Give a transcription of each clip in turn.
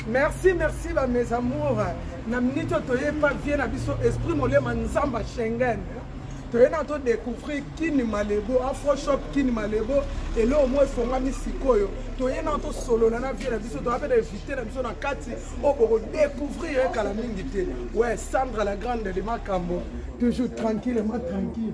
merci merci ba mes amours na minute oyo toye pa vie na biso esprit molema nzamba schengen toye na todecouvrir kini malebo afroshop kini malebo eloko moko efongami sikoyo toye na tosolola na vie na biso toya mpe na evite na biso na kati oyo bokodecouvrir ye kala mingi te we sandra la grande de makambo toujours tranquillement tranquille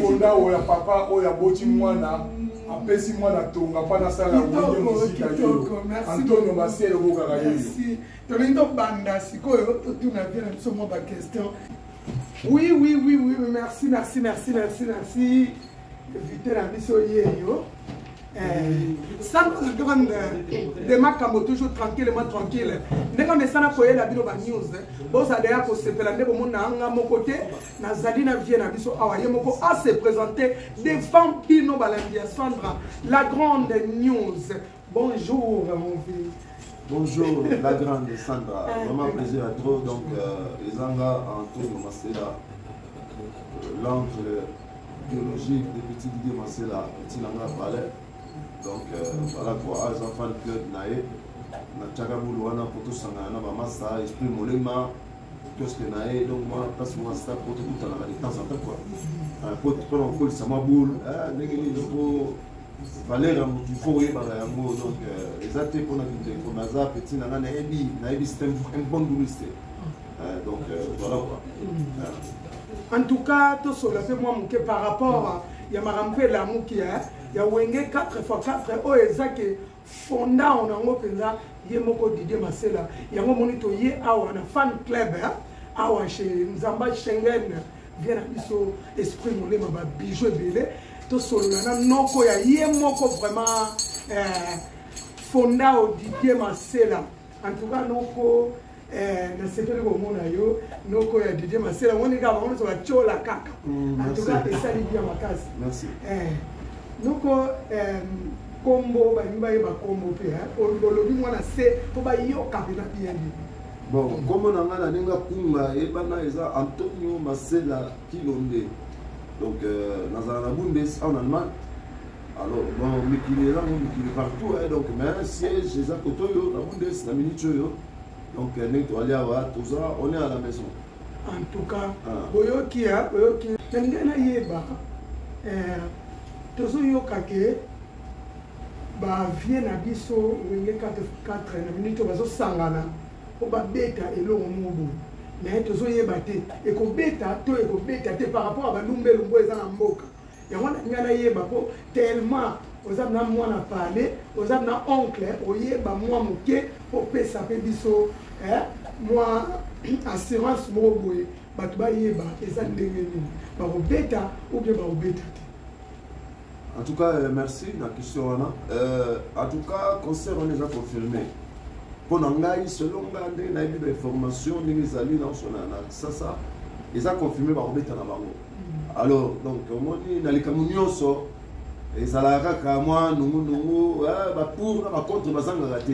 fonda oyo ya papa oyo aboti mwana apesi mwana tonga mpo nasala wenge mosika yo antonio masele okokaka yeyo tolingi tobanda sikoyo totuna vie na biso mwa baquestion oui oui oui oui merci merci merci merci merci invité na biso yeyo sango na grande de makambo toujours tranquillement tranquille ndenge mesana koyela bino banews bozala ya kosepela nde bomona nga moko te nazali na vie na biso awa ye moko ase présente devant bino balandi ya sandra la grande news bonjour mon fils Bonjour, la grande Sandra. Ah, Vraiment plaisir à trop. Donc, euh, les Angas en tour, c'est là. Euh, l'angle biologique depuis ti didier masela etina nga palais donc euh, voilà quoi aza fan club na ye natyaka bulu wana mpo tosangana na bamasa esprit molema kioske na ye donc mwa place mwa sta mpo tokutanaka de temps en temps quoi mpo euh, mpona kokolisa mwa bulu ah, ndenge nini mpo valeur ya motu fo oyebaka yango donc euh, eza te mpona kindeko naza petit na nga nayebi nayebi c'est un bon bouliste Euh, donc euh, voilà quoi. Mm. En tout cas, tout cela c'est moi mouké par rapport à ya makambo mpe elamuki ya ya wenge 4 fois 4 oyo eza ke fonda ona yango mpenza ye moko didie masela yango omoni toye awa na fan club eh? awa chez nzamba schengen vie na biso esprit molema babiju ebele tosolola na noko ya ye moko vraiment eh, fonda odidie masela En tout cas noko eh, nasepeli komona yo noko ya didie masela omoni kaka bango nyonso batyola kaka mm, en tout cas esali bia makasi eh, noko nkombo balingi bayeba nkombo mpe olobi mwana se mpo bayoka mpena bien bien bon nkombo na ngai na ndenge akunga eyebana eza antonio masela kilonde donc euh, nazala na bundes en allemagne alors bon mikili eza ngo mikili partout eh, donc mais siège eza koto oyo na bundes na minute oyo donc eh, ndenge toali awa toza on est à la maison en tout cas ah. boyoki ya boyoki na ndenge nayeba eh, tozoyoka ke bavie na biso wenge 44 na minute bazosangana mpo babeta elongo moko boye naye tozoyeba te ekobeta to ekobeta te par rapport ya balumbelumbu eza na mboka yango wana ngai nayeba mpo tellement oza na mwana pale oza na oncle oyeba mwa moke opesa mpe biso eh, mwa assurance moko boye bato bayeba eza ndenge nini bakobeta oubien bakobeta te en tout cas euh, merci na question wana euh, en tout cas concert wana eza confirmé mpo na ngai selon ngai ndenge nayebi bainformation ndenge ezali naosona na sasa eza confirmé bakobeta na bango alors donc omoni na likambo nyonso ezalaka kaka mwa nungunungu eh, bapour na bacontre bazangaka te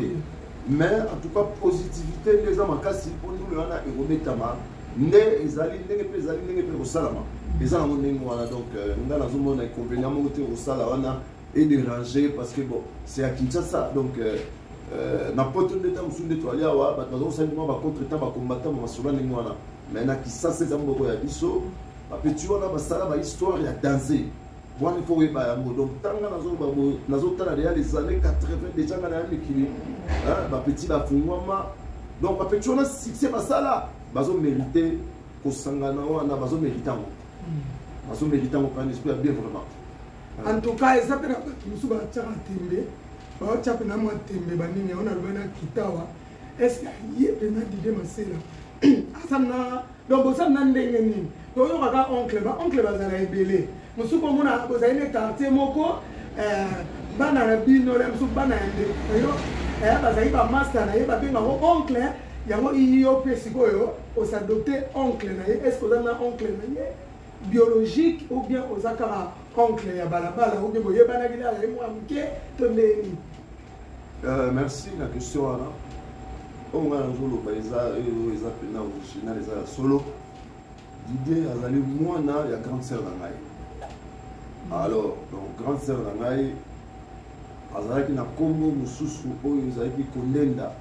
mais en tout cas positivité nde eza makasi mpo ndule wana ekobetama nde ezali ndenge mpe ezali ndenge mpe kosalama eza nango ndenge wana donc euh, nga nazomona inconvénient moko te kosala wana edérange parce que bon c'est à kinshasa donc euh, euh, na poto nde ntango mosusu nde toali awa bato bazokosali mwa bacontre temps bakombata ma masolo ndenge wana mais na kisasa eza moko ya biso bapeti wana basala bahistoire ya danse wana ifo oyeba yango donc ntanga nazotala deya les années 80 deja nga naya mikili bapeti bafungwama donc bapeti wana succès basala bazomerite kosangana wana bazomerite yango hmm. bazomerite yango pan esprit ya bien vraiment en tout cas eza mpe na bato mosusu batiaka tembe baotia mpe na mwa tembe banini yango nalobai na kitawa ese ye pena dide masela aza na donc boza na ndenge nini toyoka ka oncle ba oncle bazala ebele mosusu komona bozali na quartier moko eh, bana na bino le mosusu bana ya ndeko na yo eh, bazali bamasta na ye babengango oncle yango iyo mpe sikoyo osadopte oncle na ye estce oza na oncle na ye biologique ou bien oza kaka oncle ya balabala ou bien boyebanaki na ye mwa moke to ndenge nini Euh, merci na question wana oyo ngai nazoloba eza oyo eza mpena original eza ya solo didie azali mwana ya grande sœur na ngai alors donc grande sœur na ngai azalaki na nkombo mosusu oyo ezalaki kolenda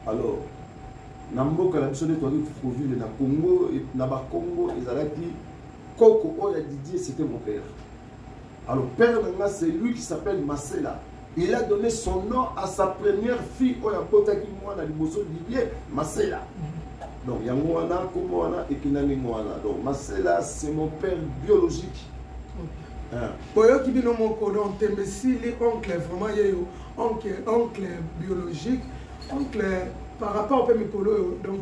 alors na mboka na biso nde toyaki kovivre na congo na bakongo ezalaki koko oyo ya didie c'était mon père Alors père na nga c'est lui qui s'appelle Masela. Il a donné son nom à sa première fille oyo abotaki mwana liboso Didier Masela. Donc yango wana kombo wana ekenda ndenge wana. Donc Masela c'est mon père biologique. boyoki hein. bino moko donc tembe esili oncle vraiment ye yo oncle biologique oncle par rapport mpe mikolo oyo donc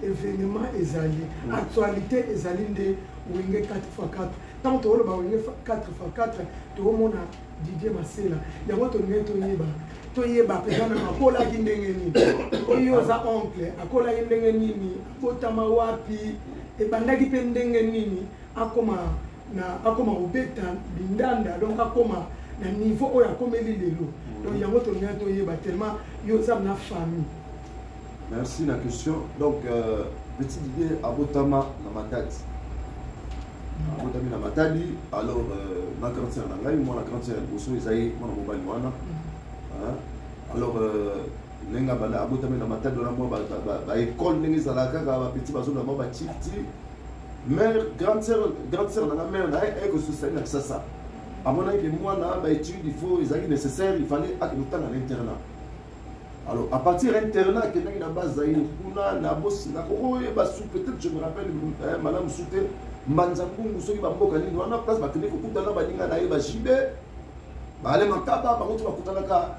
evenement ezali mm. actualité ezali nde wenge 4 x 4 ntango tokoloba wenge 4 x 4 tokomona didie masela yango tolingai toyeba toyeba mpenza na akolaki ndenge nini oyo oza oncle akolaki ndenge nini abotama wapi ebandaki mpe ndenge nini akoma na akoma kobeta bindanda donc akoma na niveau oyo akomeli lelo mm. donc yango tolingai toyeba tellement yo oza na famille merci na question donc euh, petit didie abotama na matadi mm. abotami na matadi alors euh, na grande sœur na ngai mwana grande sœur ya liboso eza ye mwana mobali wana mm. alors euh, ndenge abotami na matadi wana mwa baekole ndenge ezalaka kaka bapetit bazolama batifti mère grande sœur grande sœur na mère na ye ko susani na kisasa amonaki ke mwana ba études il faut ezalaki nécessaire il fallait ake kotanga na internat alors à partir internat akendaki na bazaire kuna na bosina kokoyeba su peut-être je me rappelle eh, malamu su te mbanza mbungu soki bamboka nini wana place bakende kokutana baninga na ye bajibe baale makaba bango ti bakutanaka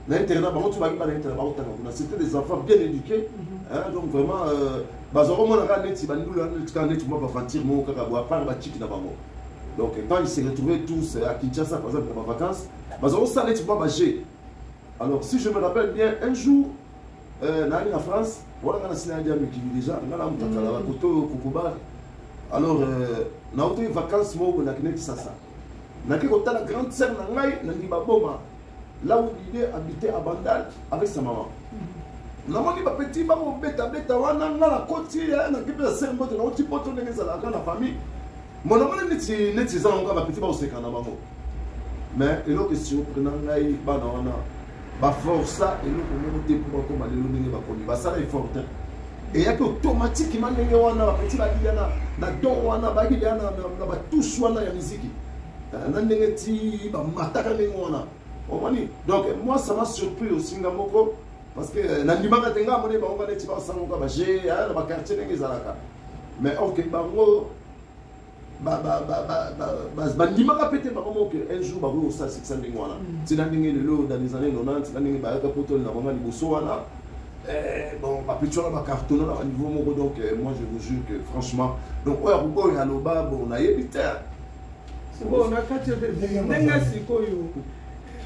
na internat bango ti bayebi bana internat bakotanga kuna c'était des enfants bien éduqués mhm. donc vraiment euh, bazwa komona kaka neti bandulu wana neti kaka neti mwa baventure moko kaka bo apart baciki na bango donc quand ils se retrouvaient tous euh, à kinshasa par exemple na bavacances bazwa kosala neti mwa baje alors si je me rappelle bien un jour euh, naali na france wana nga nasila yadi ya mikili déjà nga na mutakala mhm. bakoto oyo kokobar alors nautaki vacances moko nakendeki sasa nake kotala grande sœur na ngai na ndibaboma Là où l'idée habitait à Bandal avec sa maman. namoni bapeti bakobetabeta wana nga na koti eh, nakipesa se mbote nauti poto ndenge ezalaka na famille mo namoni neti neti eza yango kaka bapeti bakoseka na bango mais eloko esurprena ngai bana wana baforsa eloko moko te mpo bakoma lelo ndenge bakomi basala effort te eyaki automatiquement ndenge wana bapeti babilia na don wana babilia na batouche wana ya miziki euh, na ndenge ti bamataka ndenge wana omoni donc moi ça m'a surpris aussi nga moko parce que euh, nandimaka te nga amoni bango baneti basangoka baje ah, na baquartier ndenge ezalaka mais ok bango bandimaka mpe te bango moke un jour bakoki kosala sikisa ndenge wana mm. tina ndenge lelo dans les années 90 tina ndenge bayaka poto na bango liboso wana eh, bon bapetiola bacartona na baniveau moko donc euh, moi je vous jure que franchement donc oyo akokoyo aloba bon nayebi te sikoyo na kati ya bebe ndenge sikoyo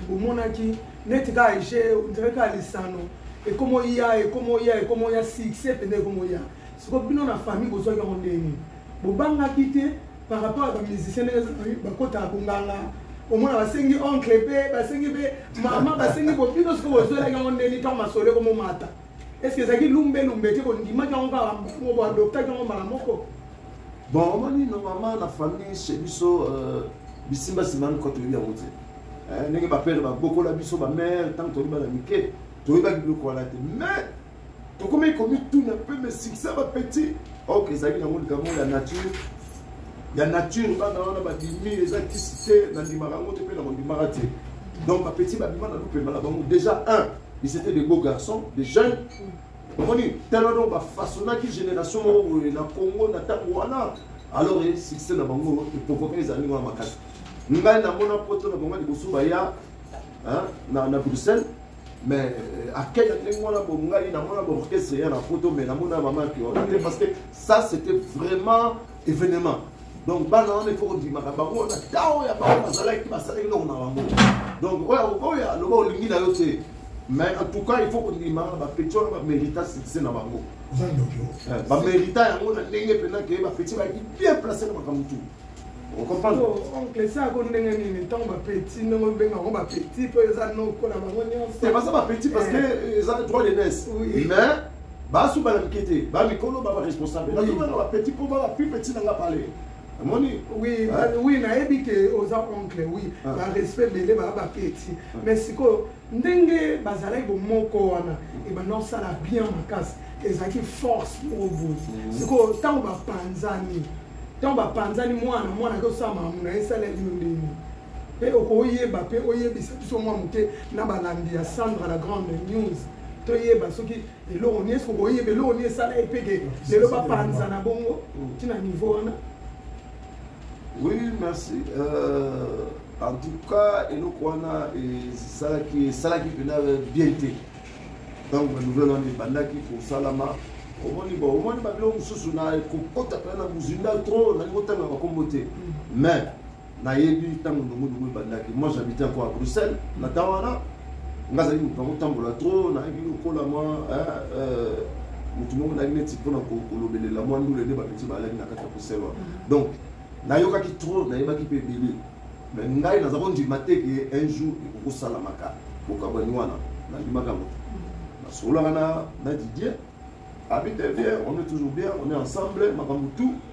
bomonaki neti kaka ege ondire kaka lisano ekomoya ekomoya ekomoya succès mpenza ekomoya sikoyo bino na famille bozwaki yango ndenge nini bobangaki te par rapport ya bamusicien ndenge bakotaka konganga omona basengi oncle mpe basengi mpe mama basengi bobino sikoyo bozwelaki yango ndenge nini ntango masolo ekomomata est ce que ezalaki lumbe lumbe te kondimaki yango kaka moko boadoptaki yango mbala moko bon omoni normalement na famille chez biso euh, bisimbasimba miko toyebi yango te eh, ndenge bapere babokola biso bamare ntango toyebi bana mike toyebaki biloko wana te mais tokomaki komituna mpe me succès bapetit ok ezalaki nango likambo ya nature ya nature bana wana babimi eza kisi te nandimaka yango te mpe na kondimaka te donc bapetit babima na lupema na bango déjà un ils étaient des beaux garçons des jeunes omoni tala donc bafaçonnaki génération moko boye na congo na ntango wana alors e succès na bango eprovoke ezali wana makasi ngai namona poto na bango liboso baya na, na bruxelles mais euh, akei na ndenge wana bo ngai namona baorchestre ya na poto mais namona mama piona te parce que ça c'était vraiment evenement donc bana wana ifo kondimaka bango na ntango ya bango bazalaki basalaki noko na bango donc oyo akokoya aloba olingi na yo te mais en tout cas il faut kondima bapeti wana bamérita succès na bango eh, bamérita yango na ndenge mpena ke bapeti bayaki bien place na makambo tu oncle sako ndenge nini ntango bapeti ndenge obenga yango bapeti mpo eza noko na bango nyonso baza bapeti parce que eh. eza droit de nesse mais basu bana mike te ba mikolo ba ba responsable nazo bana ba petit po ba plus petit na nga pale amoni oui ah. oui nayebi ke oza oncle oui ah. ba respect bele ba ba petit ah. mais sikoyo ndenge bazalaki bomoko wana ebanda osala bien makasi ezalaki force moko boye mhm. sikoyo ntango bapanzani ntango bapanzani mwana mwana akosala mamu na ye esaleli yo ndenge mpe okoyeba mpe oyebisa biso mwa moke na balandi ya sandra la grande news toyeba soki eloko nini eske okoyeba eloko nini esala ye mpeke lelo bapanza na bongo ntina niveau wana oui merci euh, en tout cas eloko wana esalaki esalaki mpena bien te ntango banouvelle wana ebandaki kosalama omoni bo omoni babilo mosusu na kokota mpena na buzinda trop nalingi kotanga bakombo te mm. mais nayebi ntango ndongodongo ebandaki moi j'habite encore à bruxelles na temps wana nga azali moto nakotambola trop nayebi lokola mwa euh, motu moko nayaki neti mpona kolobelela mwa ndule nde bapeti balaki na kati ya bruxelles wana mm. donc nayokaki trop nayebaki mpe ebele me ngai naza kondima te ke un jour ekokosalamaka bokabwani wana nandimaka yango te mm. nasololaka na didier abite bien on est toujours bien on est ensemble makambo tout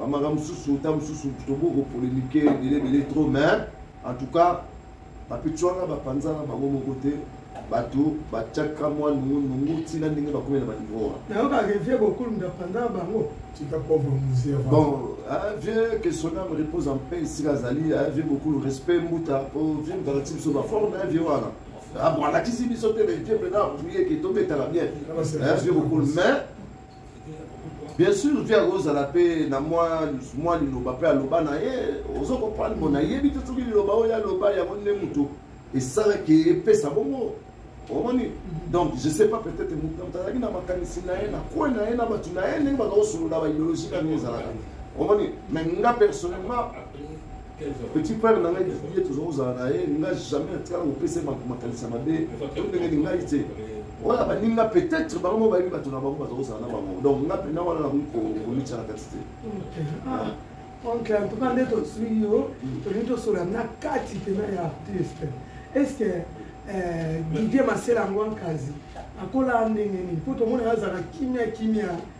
bamaka mosusu nta mosusu toboki kopolemike ebele ebele trop mais en tout cas bapeti wana bapanzana bango moko te bato batiaka mwa nungunungu ntina ndenge bakomi na banivo wana yango barevie bokulu ndapanzana bango tika pauvre musée bon ah, vieux que son âme repose en paix esika azali ah, vieux bokulu respect mbuta po oh, vieux moto alakisi biso baforme na vieux wana ah, bon alakisi biso te mais vieux mpena apriye ke tobetaka bien vieux bokulu mais bien sûr vie akozala mpe na mwa liloba mpe aloba na ye ozo comprendre mpo nayebi te soki liloba oyo aloba yango nde moto esalaki epesa bongo omoni mhm. donc je sais pas peut-être moto azalaki na makanisi na ye na kwe na ye na bato na ye ndenge bazakosolola baideologie kaka ezalaka omoni mais nga personnellement petit frère na ngai ye tozali kozala na ye nga jamais atikala kopesa makanisa mabe to ndenge lingai te wana baninga peut-être bango moko bayebi bato na bango bazali kozala na bango donc nga mpena wana nakoki komitya na kati te oncle en tout cas nde tozwi yo tolingi tosola na kati mpena ya artiste est ce que eh, didier masela yango ankazi akolaa ndenge nini mpo tomona azala kimia kimia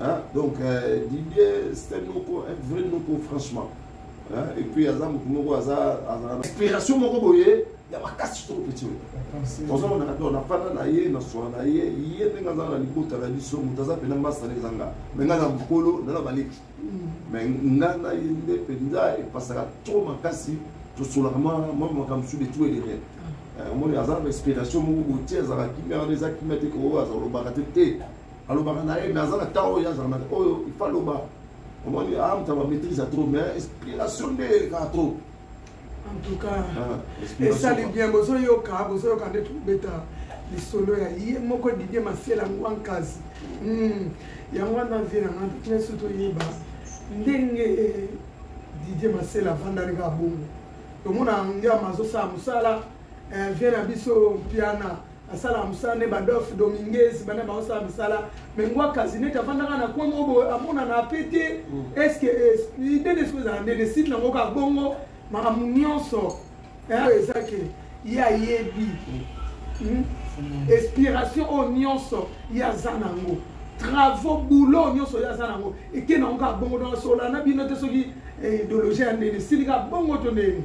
Hein? Donc, euh, Didier, c'était Noko, un vrai Noko, franchement. Hein? Et puis, Aza Mokumoko, Aza, Aza. Inspiration Moko Boye, il y a ma casse trop petit. Dans un moment, on a pas na ye, na soin na ye, il y a des gens dans les bouts, dans la mission, dans la peine, dans les zanga. Mais dans la boucolo, dans la balik. Mais dans la yende, penda, et parce que trop ma casse, tout sur la main, moi, moi, comme sur les tout et les rêves. omoni aza na inspiration moko botie azalaki merde eza kimia te koo azalobaka te te alobaka na ye mais aza na temps oyo azalaka na oyo ifa loba omoni amta ba maîtrise trop mais inspiration nde eleka trop en tout cas ah, esali bien bozoyoka bozoyoka nde tobeta lisolo ya ye moko didie masela ngwa nkasi hmm. yango wana vie na ngai nyonso toyeba ndenge didie masela avandani kaka bongo tomona ngiama azosala mosala eh, vie na biso mpiana asalaka mosala nde badolphe dominguez bana baosala misala me ngwa kasi neti afandaka na coin moko boye amonana mpe te estce ide nde soki ezala nde deside nango kaka bongo makambo nyonso oyo eza ke ye ayebi hmm? inspiration oyo nyonso ye aza nango travaux boulot nyonso ye aza nango eke nango kaka bongo donc asola na bino te soki eh, idéologie ya ndeni esili kaka bongo to ndeni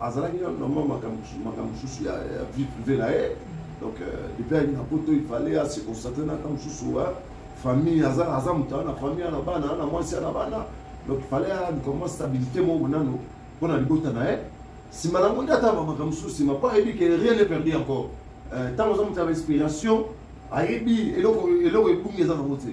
azalaki na vraiment makambo mosusu ya vie privé na ye donc euh, depuis alinga poto il fallait ase constate naka mosusu famille aza aza moto ana famille ana bana ana mwasi ana bana donc il fallait aluka mwa stabilité moko nano mpo na libota na ye nsima nango nde ata makambo mosusu nsima mpo ayebi ke rien ne perdu encore ntango euh, aza moto ya bainspiration ayebi eloko eloko ebungi eza nango te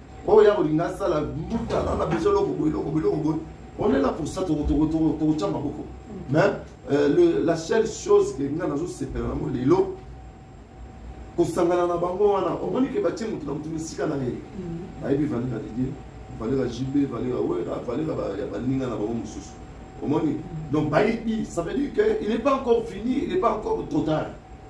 oyo ya kolinga asala mbuta nanga biso eloko boye eloko boye eloko boye on est là pour ça tokotya maboko mais euh, la seule chose ke nga nazosepela nango lelo kosangana na bango wana omoni ke batie moto na moto misika na ye mm. bayebi valera didie valera jb valera wera valera ya baninga na bango mosusu omoni mm. donc bayebi ça veut dire que il n'est pas encore fini il n'est pas encore trop tard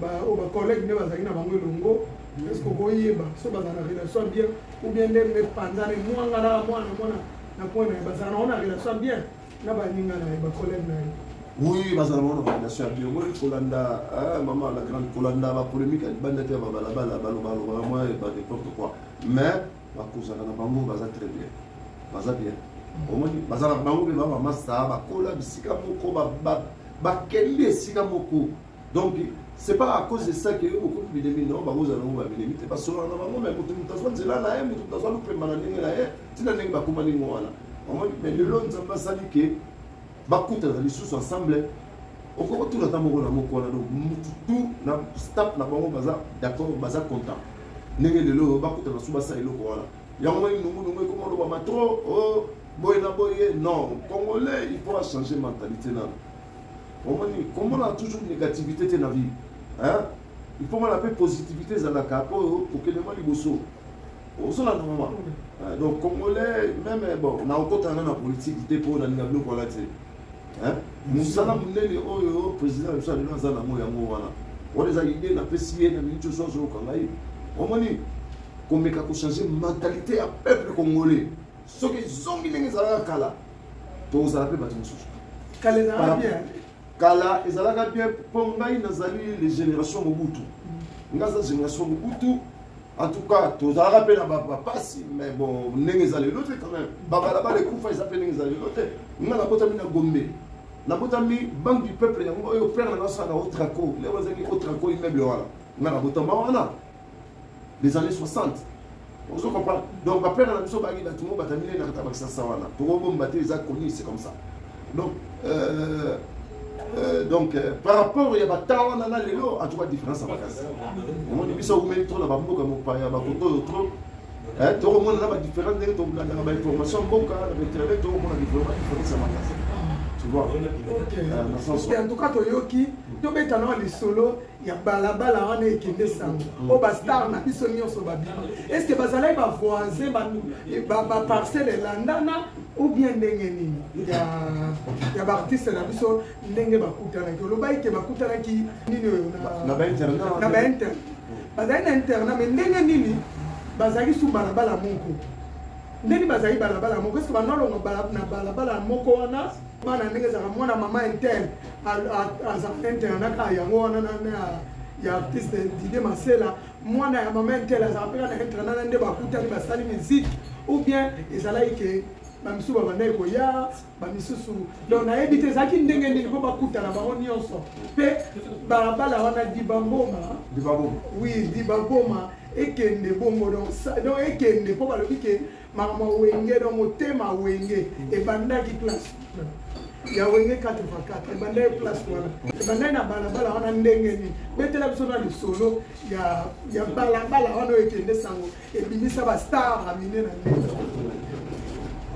baoyo bacollègue nde bazalaki na bango elongo eske okoyeba so bazala na relation bien ou bien nde mepanzana emwanga na mwana mwana na point na ye bazala nango na relation bien na baninga na ye bacollègue na ye oui bazala bango na relation ya bien omoni kolanda ah, mama la grande kolanda bapolémique ya libanda te ya babalabala balobalobaka mwa epa n'importe quoi mais bakozala na bango baza très bien baza bien omoni bazala bango mpe baba masta bakola bisika moko bakende esika moko donc c'est pas à cause de ça que yo bokomi bilemi non bakozala nango babilemi te basolana na bango me moto moto azwa nzela na ye moto moto azwa lopemba na ndenge na ye ntina ndenge bakomani ngo wana omoni me lelo nzambe asali ke bakutana lisusu ensemble okoki kotuna ata moko na moko wana donc mutu tu na staff na bango baza d'accord baza content ndenge lelo oyo bakutana su basala eloko wana yango moni nungunungu ekoma olobama trop o oh, boye na boye non congolais il faut achanger mentalité nano omoni komona toujours négativité te na vie il faut mona mpe positivité ezalaka mpo kokende mwa liboso ozolanda mama donc congolais meme bon nakokotana na politiki te mpo nalinga biloko wana te mosala monene oyo président biso alelo aza nango yango wana wana eza idée napesi ye na miniti oso azoloka ngai omoni komeka kochange mentalité ya peuple congolais soki ezongi ndenge ezalaka kala tozala mpe bato mosusu kala ezalaka bien mpo ngai nazali le génération mobutu ngai aza génération mobutu en tout cas tozalaka mpe na bapasi mais bon ndenge eza lelo te quand même babalabala ekufa eza mpe ndenge eza lelo te ngai nakotami na gombe nabotami banque du peuple yango oyo père na ngai asala na otraco leo ezangi otraco immeuble wana ngai nabotama wana les années 60 ozo comprendre donc bapere na biso bangi bato mo bata minene nakata bakisasa wana tokobomba te eza connu c'est comme ça donc euh, euh, donc euh, par rapport ya bata wana na lelo en tout cas différence ya makasi omoni biso aumeli trop na bamboka mopaya bakoto oyo trop tokomona na badifférence ndenge tolandaka bainformation mboka na bainternet tokomona vraiment différence ya makasi tu vois en tout cas toyoki tobeta na lisolo ya balabala wana ekende sango mm. oyo bastar na biso nyonso babima estce bazalaki bavoisin baparcele elandana ou bien ndenge nini ya baartiste na biso ndenge bakutanaki olobaki ke bakutanaki nini oyo na bainterna bazali na interna mai ndenge nini bazalaki su balabala moko ndenge bazali balabala moko eske banalonga na balabala moko wana bana ndenge ezalaka mwana mama interne azalaka internanaka yango wana ya artiste dide masela mwana ya mama interne azalaka mpeka na internana nde bakutani basali miziki ou bien ezalaki ke bamisusu babandaki koya bamisusu donc nayebi te ezalaki ndenge nini mpo bakutana bango nyonso mpe balabala wana dibangoma oui dibangoma ekende bongo donc ekende mpo balobi ke makambo wenge no motema wenge ebandaki place ya wenge 84 ebandaki place wana ebandaki na balabala wana ndenge nini betela biso na lisolo ya balabala wana oyo ekende sango ebimisa bastar na mine na ndenge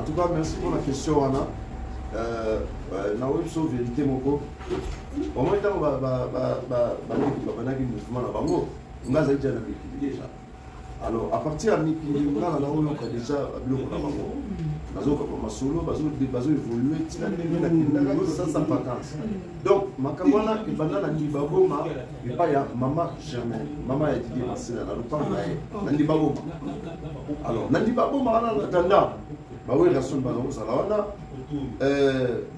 en tout cas merci pour la question wana euh, euh, naoyebi biso verité moko omoi ntango bandaki mouvement na bango nga azali ja na mikili déjà alors à partir ya mikili nga na naoyoka déjà biloko na bango bazokaka masolo bazoévolue ntina ndenge nakendaka kosasa vacance donc makambo wana ebanda na ndibagoma epai ya mama germain mama ya didie masina na lopango na ye na ndibagoma alors na ndibagoma wana na tanda bawerasoni baza kozala wana euh,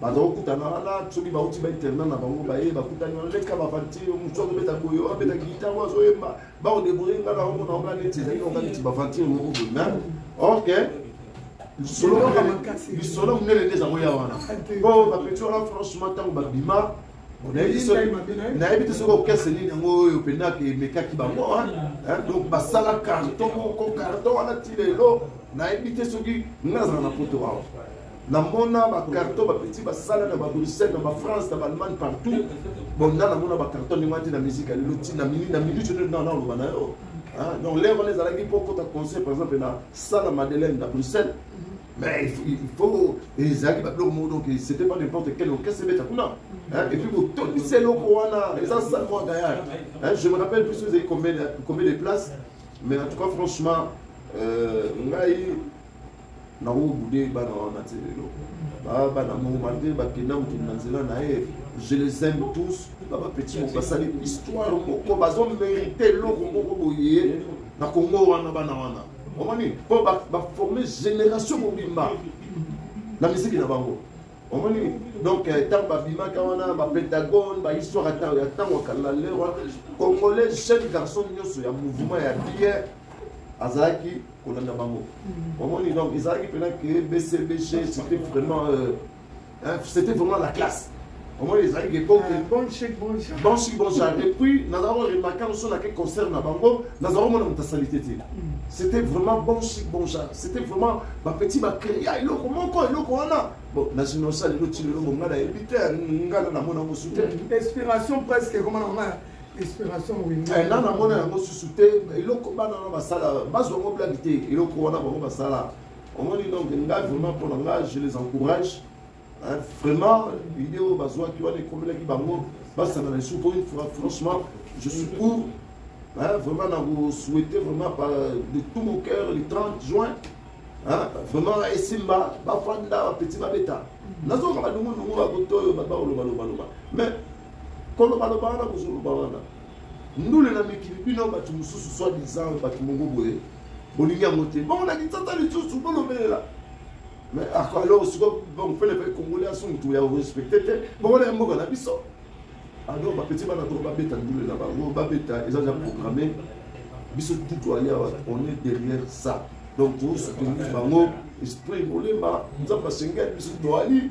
baza kokutana wana soki bauti bainterna na bango baye bakutani wana leka bavantire mosu azobeta boye oyo abeta guitare oyo azoyemba baodeboye nga na omona oka neti ezali na oka neti bavantire moko boye me ok lisolo monene nde ezango ya wana po bapeti wana franchement ntango babima nayebi te soki okese nini yango oyo mpenza emekaki bango donc basala carton moko carton wana ti lelo nayebi te soki nga nazala na poto awa namona bacarton bapeti basala na babruxelles na bafrance na baallemagne partout bon nga namona bacarton ndenge wana te na miziki ya lelo ti na minute nde nana oloba na yo donc lere wana ezalaki mpo kota conseil par exemple na sala madeleine na bruxelles mais il faut ezalaki babiloko moko donc c'était pas n'importe quel orchestre ebeta kuna et puis kotondisa eloko wana eza sale mwa gayard je me rappelle plus ezali combien de places mais en tout cas franchement euh, ngai nango bude bana wana te lelo bana mongo malgre bakenda mokili na nzela na ye je les aime tous na bapeti moko basali histoire moko bazo mérite eloko moko boye na kongo wana bana wana omoni mpo baforme génération mobimba na miziki na bango omoni donc ntango euh, babimaka wana bapentagone bahistoire ya ntango ya kala lero congolais jeune garçon nyonso ya mouvement ya bière azalaki kolanda bango mm. omoni donc ezalaki mpena ke bcbg c'était vraiment euh, hein, c'était vraiment la classe omoni ezalaki epoke ah, bonchi bonchar et puis nazalaki oremaka mosu nake concert na bango nazalaki omona moto asali te te mm. c'était vraiment bonchi bonchar c'était vraiment bapeti bacrea eloko moko eloko wana bon nazino osala eloti lelo bonga nayebi te nga na namona mosu te mm. inspiration presque ekoma na ngai inspiration moyingo eh, na namona yango susu te eloko bana wana basala bazwa yango blage te eloko wana bango basala omoni donc ngai vraiment mpo na ngai je les encourage hein, vraiment idée oyo bazwaki wana ekomelaki bango basangana lisusu mpo franchement je suis pour hein, vraiment na kosouhaite vraiment par de tout mon cœur le 30 juin hein, vraiment esimba bafanda bapeti babeta nazoka badungunungu bakotoyo babakolobaloba mais kolobaloba wana kozoloba wana ndule na mikili bino bato mosusu soi disant bato moko boye bolingi yango te bongo na kinsasa lisusu bolobelela mais alors siko donc fele pe congolais aso motu ya respecte te bongo na mboka na biso alors bapeti bana toko babeta ndule na bango babeta eza ja programme biso tutu alia on est derrière ça donc tosoutenir bango esprit molema nzambe asengeli biso toali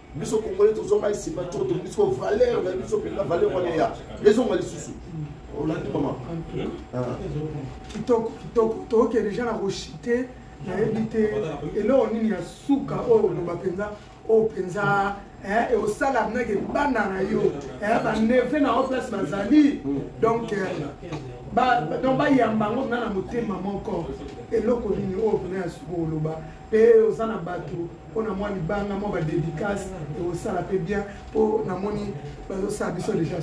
biso congolais tozonga nsima to tolingi siko valeur na biso mpenza valeur wana ya ezonga lisusu olandi mama kitoko kitoko tookende deja na koshite nayebi te eloko nini ya suka oyo oloba mpenza oyo mpenza osala nake bana na yo baneve na yo place bazali donc donc bayamba yango mna na motema moko eloko nini oyo mpena ya suka oloba mpe oza na bato mpo na mwa libanga mwa badedicace ekosala mpe bien mpo namoni bazosala biso deja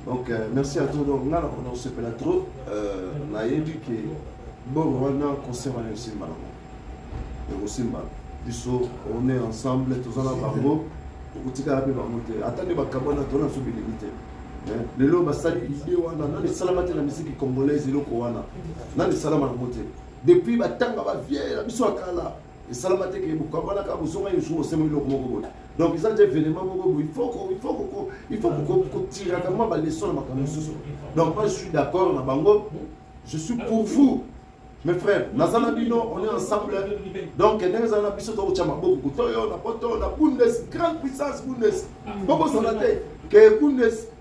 donc euh, merci à toi donc nga nakona kosepela trop euh, nayebi ke bongo wana concert wana ekosimba nango ekosimba biso on est ensemble toza na bango okotikala mpe bango te ata nde bakabwana tona biso bilingi te lelo basali ide wana nani esalama te na misiki congolaise eloko wana nani esalama yango te depuis batanga baviere na biso ya kala esalama te ke bokabwana kaka bozonga ye jour osema eloko moko boye donc eza nde événement moko boye il faut kotiraka mwa baleson na makambo mosusu donc moi je suis d'accord na bango je suis pour vous mes frères naza na bino on est ensemble donc ndenge ezala na biso tokotya maboko kuta oyo na poto na bundes grande puissance bundes bokosana te ke bundes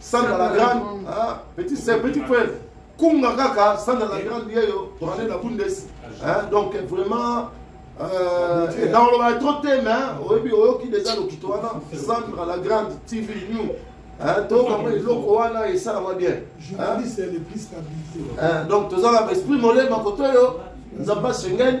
sandra la grande ah, petit sœur petit frère kunga kaka sandra la grande yeyo toale na bundes ah, donc vraiment euh, na olobaka trop te mais oyebi oyoki deja lokito wana sandra la grande tv new toyoka eloko wana esalama bien donc tozala esprit molema koto oyo nzambe asengeli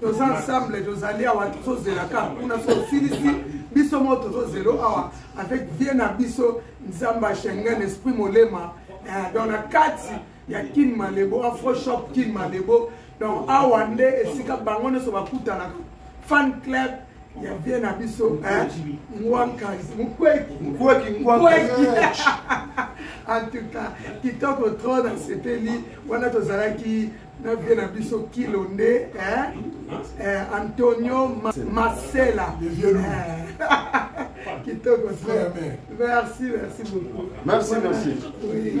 toza ensemble tozali awa tozozelaka kuna so osilisi biso moko tozozelo awa avec vie na biso nzambe ya schengen esprit molema eh, donc na kati ya kin malebo afroshop kin malebo donc awa nde esika bango nyonso bakutanaka fan club ya vie na biso ngwankazi mukweki en tout cas kitoko trop nasepeli wana tozalaki na vie na biso kilo nde eh? eh, antonio Ma masela eh. kitoko frère merci merci beaucoup merci merci oui.